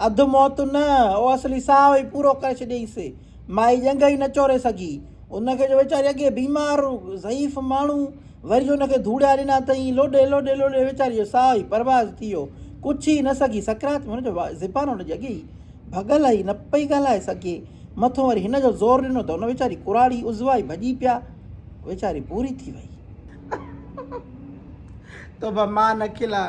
اڌ موت نه، او اصلي ساهه ئي پورو ڪري ڇڏيائينس. مائي ڄنگهه ئي نه چوري سگهي. ان کي جو ويچاري اڳي بيمار، ضعيف ماڻهو، وري جو ان کي ڌوڙيا ڏنا اٿئين، لوڏي لوڏي لوڏي ويچاري جو ساهه ئي پرواز ٿي ويو. ڪجهه ئي نه سگهي. سڪرات ۾ هن جو زبان ان جي اڳي ئي ڀڳل هئي، نه پئي ڳالهائي سگهي. مٿو وري هن جو زور ڏنو ته ان ويچاري ڪراڙي عضوا ئي ڀڄي پيا. ويچاري پوري ٿي وئي. توبه! مان نه کلان.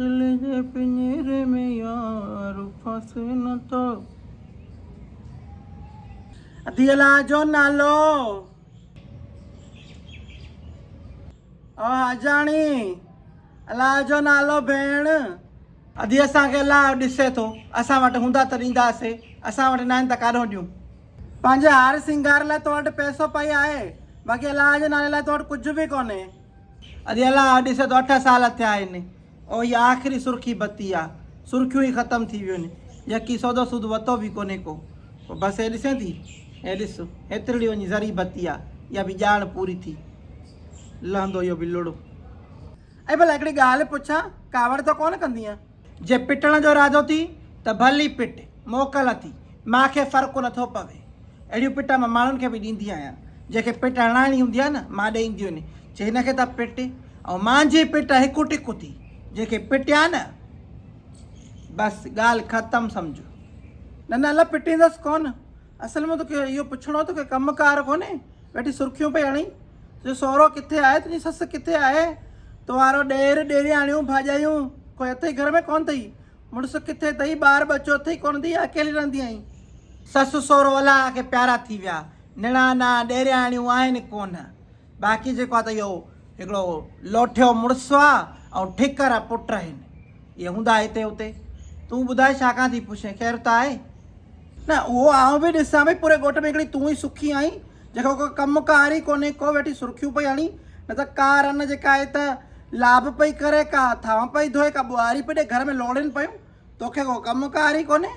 دل جي پڃيري ۾ يار ڦاسي نه ٿو. ادي الله جو نالو او حاجاڻي الله جو نالو ڀيڻ. ادي اسان کي الله ڏسي ٿو اسان وٽ هوندا ته ڏينداسي اسان وٽ ناهن ته ڪاڏهون ڏيون. پنهنجي هار سينگار لاء تو وٽ پئسو پئي آهي باقي الله جي نالي لاء تو وٽ ڪجهه به ڪونهي. اري الا اهو ڏس ته اٺ سال ٿيا آهن او هي آخري سرخي بتي آ سرخيون ئي ختم ٿي ويون يڪي سودو سود وتو به ڪونهي ڪو پوء بس هي ڏسين ٿي هي ڏس هيترڙي وڃي ذري بتي آ اها به ڄاڻ پوري ٿي لهندو اهو به لڙو. اي ڀلا هڪڙي ڳالهه پڇان ڪاوڙ ته ڪونه ڪندينء. جي پٽڻ جو ارادو ٿي ته ڀل ئي پٽ، موڪل اٿي، مان کي فرق نه ٿو پوي. اهڙيون پٽ مان ماڻهن کي به ڏيندي آهيان. جنهن کي پٽ هڻائڻي هوندي آهي نه، مان ڏئي ايندي هوني، چي هن کي ته پٽ، ۽ مانجهي پٽ هڪ ٽڪ اٿي، جنهن کي پٽيان نه، بس ڳالهه ختم سمجهو. نه نه الا پٽيندس ڪونه، اصل ۾ توکي اهو پڇڻو توکي ڪم ڪار ڪونهي ويٺي سرخيون پئي هڻين تنهنجو سهرو ڪٿي آهي تنهنجي سس ڪٿي آهي توهارو ڏير ڏيرياڻيون ڀاڄايون ڪوئي اٿئي گهر ۾ ڪونه اٿئي مڙس ڪٿي اٿئي ٻار ٻچو اٿئي ڪونه اٿئي يا اڪيلي رهندي آهين سس سهرو الاهه کي پيارا ٿي ويا نڻانا ڏيرياڻيون آهن ڪونه باقي جيڪو آهي ته اهو هڪڙو لوٺيو مڙس آ ۽ ٺڪر پٽ آهن اهي هوندا هتي هتي تون ٻڌاء ڇا کان ٿي پڇين خير ته آهي. نه اهو آئون به ڏسان ڀئي پوري ڳوٺ ۾ هڪڙي تون ئي سکي آهين جنهن کي ڪو ڪم ڪار ئي ڪونهي ڪو ويٺي سرخيون پئي هڻي نه ته ڪا رن جيڪا آهي ته لاب پئي ڪري ڪا ٿانء پئي ڌوئي ڪا ٻهاري پئي ڏي گهر ۾ لوڙين پيون توکي ڪو ڪم ڪار ئي ڪونهي.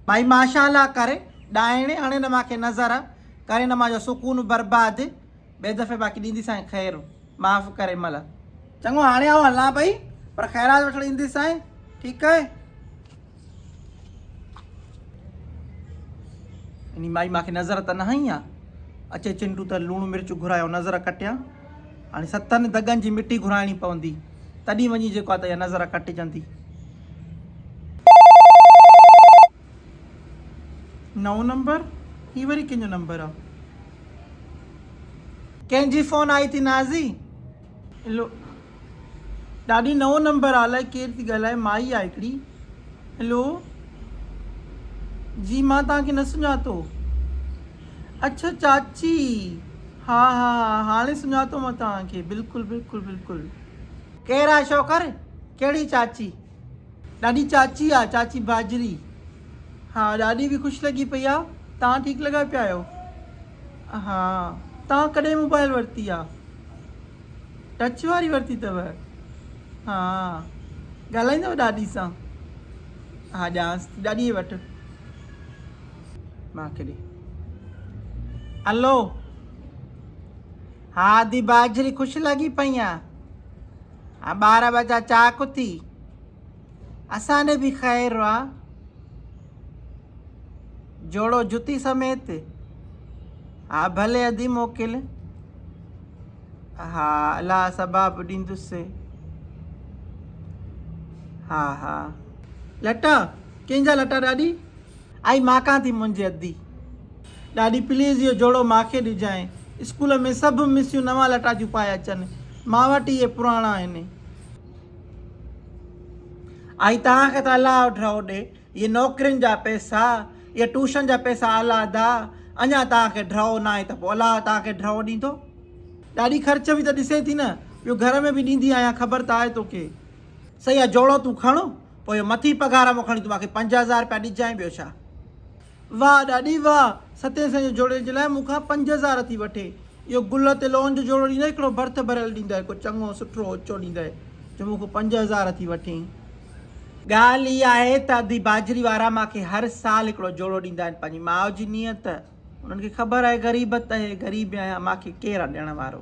ڀائي ماشاءالله ڪر ڏائڻي هڻي نه ماکي نظر ڪري نه ماجو سڪون برباد ٻئي دفعي باقي ڏيندي سائين خير معاف ڪري مل. چڱو هاڻي آئون هلان پئي پر خيرات وٺڻ اينديس سائين ٺيڪ آهي. اني مائي ماکي نظر ته نه هنئي ها اچي چنڊو ته لوڻ مرچ گهرايو نظر ڪٽيان. هاڻي ستن دڳن جي مٽي گهرائڻي پوندي، تڏهين وڃي جيڪو آهي ته اها نظر ڪٽجندي. نئون نمبر هي وري ڪنهن جو نمبر آ. ڪنهن جي فون آئي ٿي نازي. لو. ڏاڏي نئون نمبر آ الائي ڪير ٿي ڳالهائي مائي آ هڪڙي هلو جي مان توهان کي نه سڃاتو اڇا چاچي ها ها ها هاڻي سڃاتو مان توهان کي بلڪل بلڪل بلڪل. ڪير آ شوڪر ڪهڙي چاچي. ڏاڏي چاچي آ چاچي باجري. ها ڏاڏي به خوش لڳي پئي آ توهان ٺيڪ لڳا پيا آهيو ها توهان ڪڏهن موبائل ورتي آ ٽچ واري ورتي اٿو ها ڳالهائيندو ڏاڏي سان ها ڄانس ٿي ڏاڏي وٽ مان کي ڏي الو ها دي باجري خوش لڳي پئي آ ٻار ٻچا چاڪ اٿي اسان ڏي به خير را جوڙو جتي سميت ها ڀلي ادي موڪل ها الا سباب ڏيندس ها ها لٽا ڪنهن جا لٽا ڏاڏي آئي ماڪان ٿي منهنجي ادي ڏاڏي پليز اهو جوڙو ماکي ڏجانء اسڪول ۾ سڀ مسيون نوان لٽا جون پائي اچن مان وٽ اهي پراڻا آهن ۽ توهان کي ته الله اوڍ رهو ڏي، اهي نوڪرين جا پئسا، اهي ٽوشن جا پئسا اعليٰ ادا، اڃا توهان کي ڍرو ناهي ته پوء الله توهان کي ڍرو ڏيندو. ڏاڏي خرچ به ته ڏسين ٿي نه، ٻيو گهر ۾ به ڏيندي آهيان خبر ته آهي توکي. سهي آهي جوڙو تون کڻ، پوء اهو مٿين پگهار مان کڻي توهان کي پنج هزار رپيا ڏجانء ٻيو ڇا. واھ ڏاڏي واھ ستين سئين جو جوڙي جي لاء مون کان پنج هزار ٿي وٺي اهو گل تي لون جو جوڙو ڏيندئي هڪڙو برٿ ڀريل ڏيندئي ڪو چڱو سٺو اچو ڏيندئي جو مون کان پنج هزار ٿي وٺين. ڳالھ هي آهي ته ادي باجري وارا مان کي هر سال هڪڙو جوڙو ڏيندا آهن پنهنجي ماء جي نيت انهن کي خبر آهي غريب ته هي غريب آهيان مان کي ڪير آ ڏيڻ وارو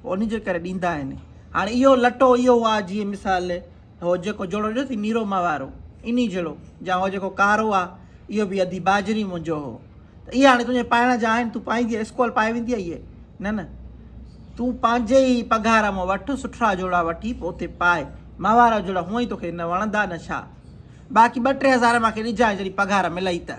پوء انهي جي ڪري ڏيندا آهن هاڻي اهو لٽو اهو آ جيئن مثال هو جيڪو جوڙو ڏٺو ٿي نيرو مئا وارو انهي جهڙو جا هو جيڪو ڪارو آ اهو به ادي باجري منهنجو هو ته اهي هاڻي تنهنجي پائڻ جا آهن تون پائيندي اسڪول پائي ويندي اهي نه نه تون پنهنجي ئي پگهار مون وٺ سٺا جوڙا وٺي پوء اتي پائي مئا وارا جوڙا هونئن ئي توکي نه وڻندا نه ڇا باقي ٻه ٽي هزار مونکي ڏجانء جڏهن پگهار ملئي ته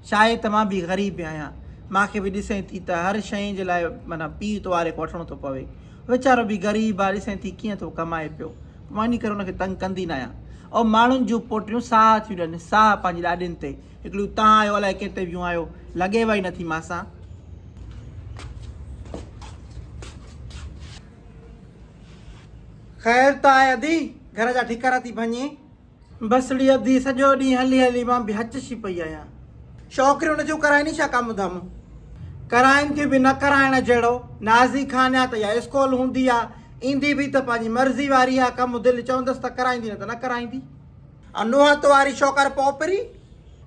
شايد ته مان به غريب آهيان مونکي به ڏسين ٿي ته هر شيء جي لاء معنيٰ پيء تواري کان وٺڻو ٿو پوي ويچارو به غريب آ ڏسين ٿي ڪيئن ٿو ڪمائي پيو وڃي ڪري ان کي تنگ ڪندي نه آهيان. او ماڻهن جون پوٽيون ساهه ٿيون ڏين، ساهه پنهنجي ڏاڏين تي، هڪڙيون تان آيو الائي ڪيتي ويون آيو، لڳيوئي نه ٿي مان سان. خير ته آهي ادي، گهر جا ٺڪر ٿي ڀڃين. بسڙي ادي سڄو ڏينهن هلي هلي مان به هچشي پئي آهيان. شوڪري ان جون ڪرائيني ڇا ڪم ڌم. ڪرائين ٿيون به نه ڪرائڻ جهڙو. نازي خانيا ته اها اسڪول هوندي آ. ايندي به ته پنهنجي مرضي واري آ. ڪم دل چوندس ته ڪرائيندي نه ته نه ڪرائيندي. ها نوحت واري شوڪر پوپري.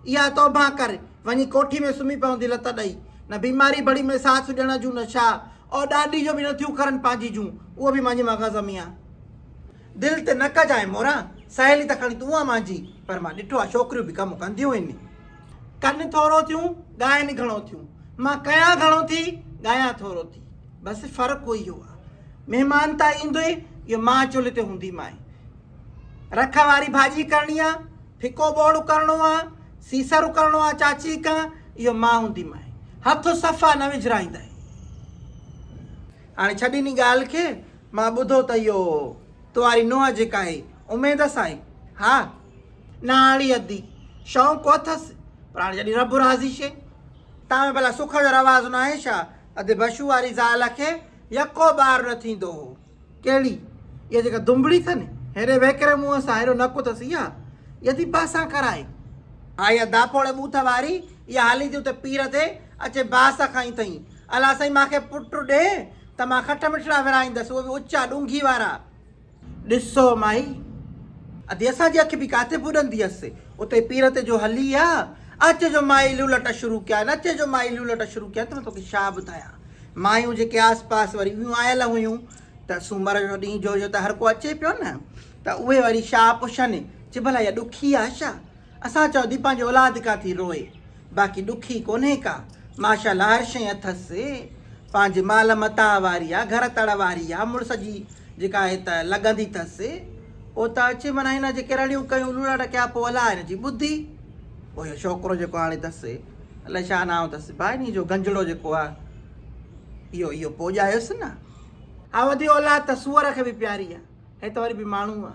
اها توبهه ڪر. وڃي ڪوٺي ۾ سمهي پوندي لت ڏئي. نه بيماري بڙي ۾ ساٿ ڏيڻ جون نه ڇا. او ڏاڏي جو به نه ٿيون کرن پنهنجي جون. اهو به مڃ مغز ۾ آ. دل تي نه ڪجانء موران، سهيلي ته کڻي تون آ مانجي. پر مان ڏٺو آ ڇوڪريون به ڪم ڪنديون هن. ڪن ٿورو ٿيون، ڳائن گهڻو ٿيون. مان ڪيان گهڻو ٿي، ڳايان ٿورو ٿي. بس فرق اهو آ. مهمان ته ايندوئي جو مان چلهه تي هونديمانء. رک واري ڀاڄي ڪرڻي آ، ڦڪو ٻوڙ اڪرڻو آ، سيسر اڪرڻو آ چاچي ڪان، اهو مان هونديمانء. هٿ صفا نه وجهرائيندانء. هاڻي ڇڏ انهي ڳالهه کي، مان ٻڌو ته اهو تو واري نونهن جي ڪاهي اميد هئس سائين. ها! نااهڙي ادي، شوق ڪو اٿس، پر هاڻي جڏهن رب راضي شي. تان ۾ ڀلا سک جو رواج ناهي ڇا؟ ادي بشو واري زال کي يڪو ٻار نه ٿيندو هو. ڪهڙي؟ اها جيڪا دنبڙي اٿن، هيڏي ويڪري منهن سان، هيڏو نڪ اٿس اها؟ اها ٿي باسان ڪرائي. ها اها داپوڙي ٻوٿ واري، اها هلي ٿي اتي پير تي، اچي باس کائين ٿئي. الا سائين مان کي پٽ ڏي ته مان کٽ مٺڙا ورهائيندس اهو به اچا ڏونگهي وارا. ڏسو مائي ادي اسان جي اک به ڪاٿي ٻڏندي هيس اتي پير تي جو هلي آ اچ جو مائي لولٽ شروع ڪيا آهن اچ جو مائي لولٽ شروع ڪيا آهن ته مان توکي ڇا ٻڌايان مايون جيڪي آس پاس وري ٻيون آيل هيون ته سومر جو ڏينهن جو هيو ته هر ڪو اچي پيو نه ته اهي وري ڇا پڇن چي ڀلا اها ڏکي آ ڇا. اسان چئو ٿي پنهنجي اولاد ڪا ٿي روئي باقي ڏکي ڪونهي ڪا ماشاءالله هر شئي اٿس پنهنجي مال متاع واري آ گهر تڙ واري آ مڙس جي جيڪا آهي ته لڳندي ٿس او ته اچي معنيٰ هن جيڪي رڙيون ڪيون لوڙا ٽڪيا پو الاء هن جي ٻڌي پو اهو شوڪرو جيڪو هاڻي ٿس الاء ڇا نانء ٿس با انهي جو گنجڙو جيڪو آ اهو اهو پو ڄايوس نه اها وڌي اولاد ته سوئر کي به پياري آ هي ته وري به ماڻهو آ.